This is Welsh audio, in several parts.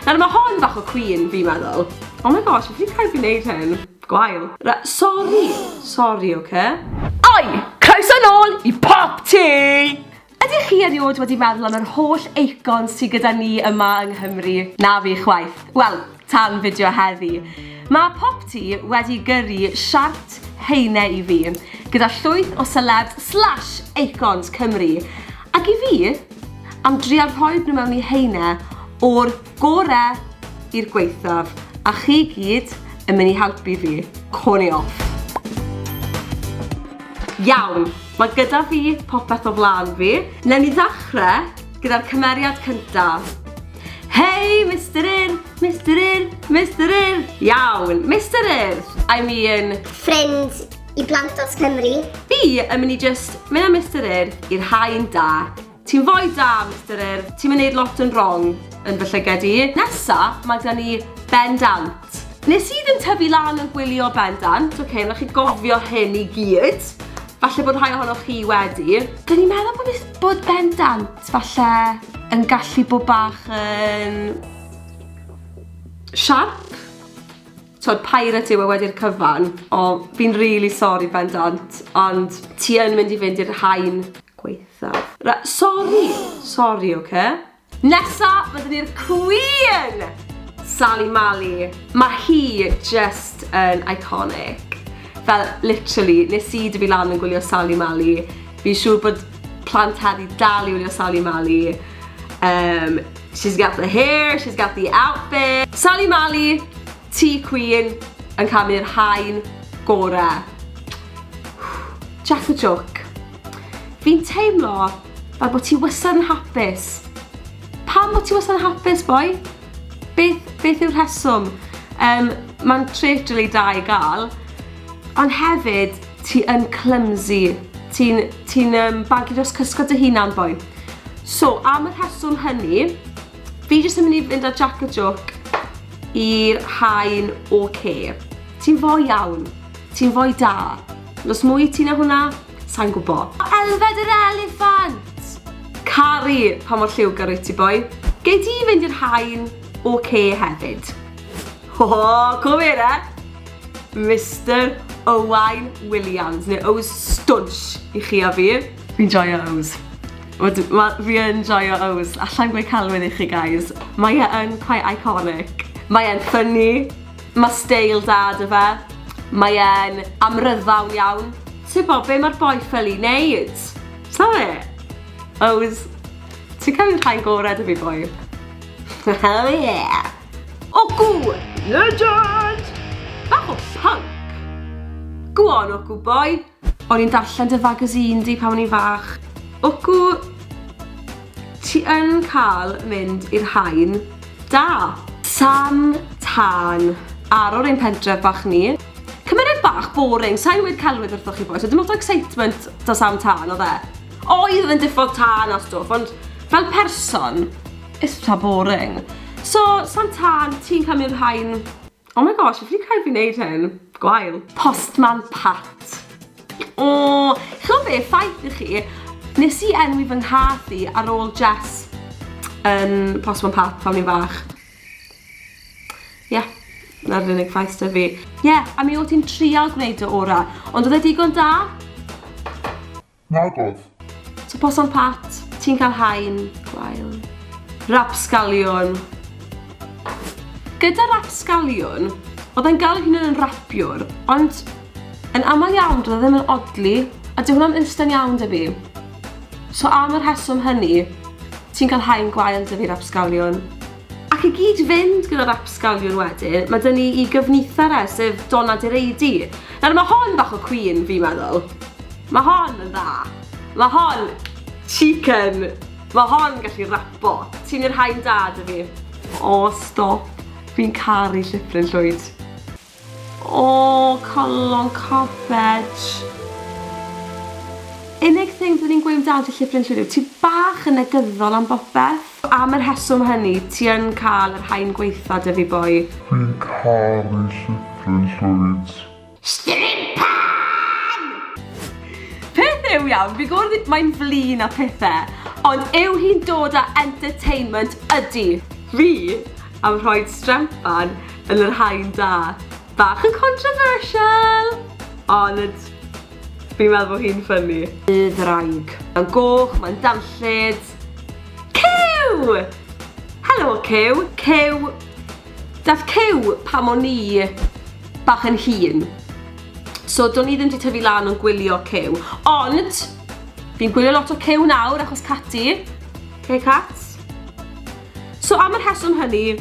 Nawr mae hon bach o cwîn fi'n meddwl. Oh my gosh, fi wedi cael fi wneud hyn. Gwael. Ra- Sori! Sori, oce? Oi! Croeso nôl i Pop Tee! Ydych chi erioed wedi meddwl am yr holl eicons sy gyda ni yma yng Nghymru? Na fi chwaith. Wel, tan fideo heddi. Mae Pop Tee wedi gyrru siart heine i fi, gyda llwyth o selebs slash eicons Cymru. Ac i fi, am dria rhoed nhw mewn i heine o'r gore i'r gwaethaf a chi gyd yn mynd i helpu fi. Corn i off. Iawn, mae gyda fi popeth o flan fi. Newn ni ddechrau gyda'r cymeriad cyntaf. Hei, Mister Urdd! Mister Urdd! Mister Urdd! Iawn, Mister Urdd! I mean... Ffrind I blant dros Cymru. Fi yn mynd i just mynd â Mister Urdd i'r haen da. Ti'n foi da, Mister Urdd. Ti'n mynd neud lot yn wrong yn fy llyged i. Nesa, mae da ni Ben Dant. Nes i ddim tyfu lan yn gwylio Ben Dant, oce, okay, rhaid chi gofio hyn i gyd. Falle bod rhai ohonoch chi wedi. Dyn ni'n meddwl bod, bod Ben Dant falle yn gallu bod bach yn... siarp? t'od pirate yw e wedi'r cyfan. O fi'n rili sori bendant ond ti yn mynd i fynd i'r haen gwaetha'. Ra- sori! Sori oce? Nesa ma' 'da ni'r cwîn! Sali Mali. Ma' hi jyst yn iconic. Fel literally nes i dyfu lan yn gwylio Sali Mali fi'n siŵr bod plant heddi dal i wylio Sali Mali yym She's got the hair, she's got the outfit. Sali Mali, ti cwîn, yn camu'r haen gora. Jack the joke. Fi'n teimlo fel bod ti wysad yn hapus. Pam bod ti wysad yn hapus, boi? Beth, beth yw'r rheswm? Um, Mae'n tret rili da i gael, ond hefyd, Ti yn clumsy. Ti'n ti um, bagu dros cysgod dy hunan, boi. So, am y rheswm hynny, fi jyst yn mynd i fynd â Jack a Joke i'r haen o ce. Ti'n fo iawn. Ti'n fwy da. Nos mwy ti na hwnna? Sa'n gwbo. Elfed yr eliffant! Cari, pa mor lliwgar wyt ti, boi. Gei di fynd i'r haen o ce hefyd. Hoo, cwm e de! Mister Owain Williams, neu Ows Stwnsh i chi a fi. Fi'n joio Ows. Fi yn joio Ows. Alla i'n gweud celwydd i chi, guys. Mae e yn quite iconic. Mae e'n ffynnu. Mae steil da da fe. Mae e'n amryddawn iawn. Tybod be mae'r boi fel i wneud? Tybod e? Ows, ti'n cael un rhain gorau da fi boi. Oh yeah! Ogw! Legend! Bach o punk! Go on, Ogw boy! O'n i'n darllen dy fagazine di pan o'n i'n fach. Ogw, ti yn cael mynd i'r haen da. Tan, tân, ar o'r ein pentref bach ni. Cymeriad bach boring, sa'n weud celwydd wrthoch chi boys, oedd dim lot o excitement da Sam Tân, oedd e? Oedd yn diffodd tân a stwff, ond fel person, It's ta boring. So, Santan, ti'n cael mynd rhain? Oh my gosh, fi wedi cael fi wneud hyn. Gwael. Postman Pat. O, chlo be, ffaith i chi, nes i enwi fy nghath i ar ôl Jess yn Postman Pat pan ni'n fach. Ie, yeah, na'r unig ffaith sydd fi. Ie, yeah, a mi o ti'n trial gwneud dy ora, ond oedd e digon da? Nag oedd. So poson pat, ti'n cael haen gwael. Rapsgaliwn. Gyda rapsgaliwn, oedd e'n gael ei hunan yn rapiwr, ond yn aml iawn doedd e ddim yn odli, a dyw hwnna'n instant iawn dy fi. So am yr heswm hynny, ti'n cael haen gwael dy fi rapsgaliwn. Ac i gyd-fynd gyda'r apsgaliwn wedyn, mae 'da ni i gyfnither e, sef Donna Direidi. Nawr, mae hon bach o cwîn, fi'n meddwl. Mae hon yn dda. Mae hon... chicken! Mae hon yn gallu rapo. Ti'n i'r haen da, 'da fi. O, stop. Fi'n caru llithrin llwyd. O, calon carped. Unig thing fyddwn i'n gweud amdan ti Llyfr Unllwyr yw ti bach yn negyddol am bopeth. Am yr rheswm hynny, ti yn cael yr haen gwaetha' 'da fi boi. Dwi'n caru Llyfr Unllwyd. Stripan! Peth yw iawn, fi'n gwybod oedd mae'n flin a phethe, ond yw hi'n dod â entertainment? Ydi. Fi? am rhoi strempan yn yr haen da. Bach yn controversial! Ond fi'n meddwl bod hi'n ffynnu. Y ddraig. Mae'n goch, mae'n danllyd. Cyw! Helo Cyw! Cyw! Dath Cyw pam o'n i bach yn hun. So do'n i ddim wedi tyfu lan o'n gwylio Cyw. Ond, fi'n gwylio lot o Cyw nawr achos Cati. Hey Cats. So am y rheswm hynny,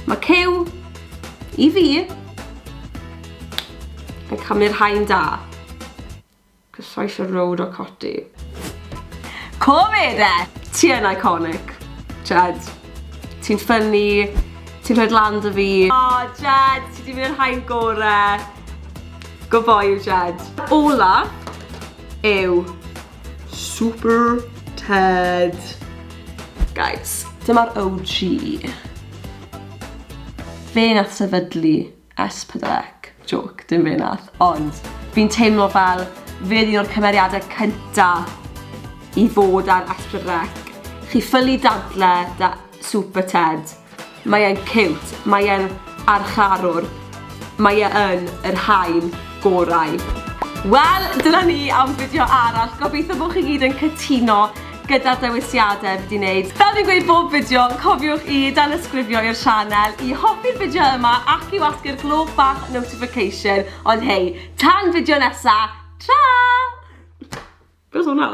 mae cyw i fi yn camu'r haen da. Cyffais y road o coti. Covid e! Ti yn iconic. Jed, ti'n ffynnu, ti'n rhaid lan dy fi. O, oh, Jed, ti di mynd i'r haen gore. Go boy, Jed. Ola yw Super Ted. Guys, dyma'r OG. Fe nath sefydlu S4C. Joke, dim fe nath, ond fi'n teimlo fel fe oedd un o'r cymeriadau cynta i fod ar S4C. Chi ffylu dadle da Super Ted. Mae e'n ciwt. Mae e'n archarwr. Mae e yn yr haen gorau. Wel, dyna ni am fideo arall. Gobeithio bod chi gyd yn cytuno gyda'r dewisiadau fi 'di wneud. Fel fi'n gweud bob fideo, cofiwch i danysgrifio i'r sianel, i hoffi'r fideo yma ac i wasgu'r gloch bach notification. Ond hei, tan fideo nesa, tra! Be was hwnna?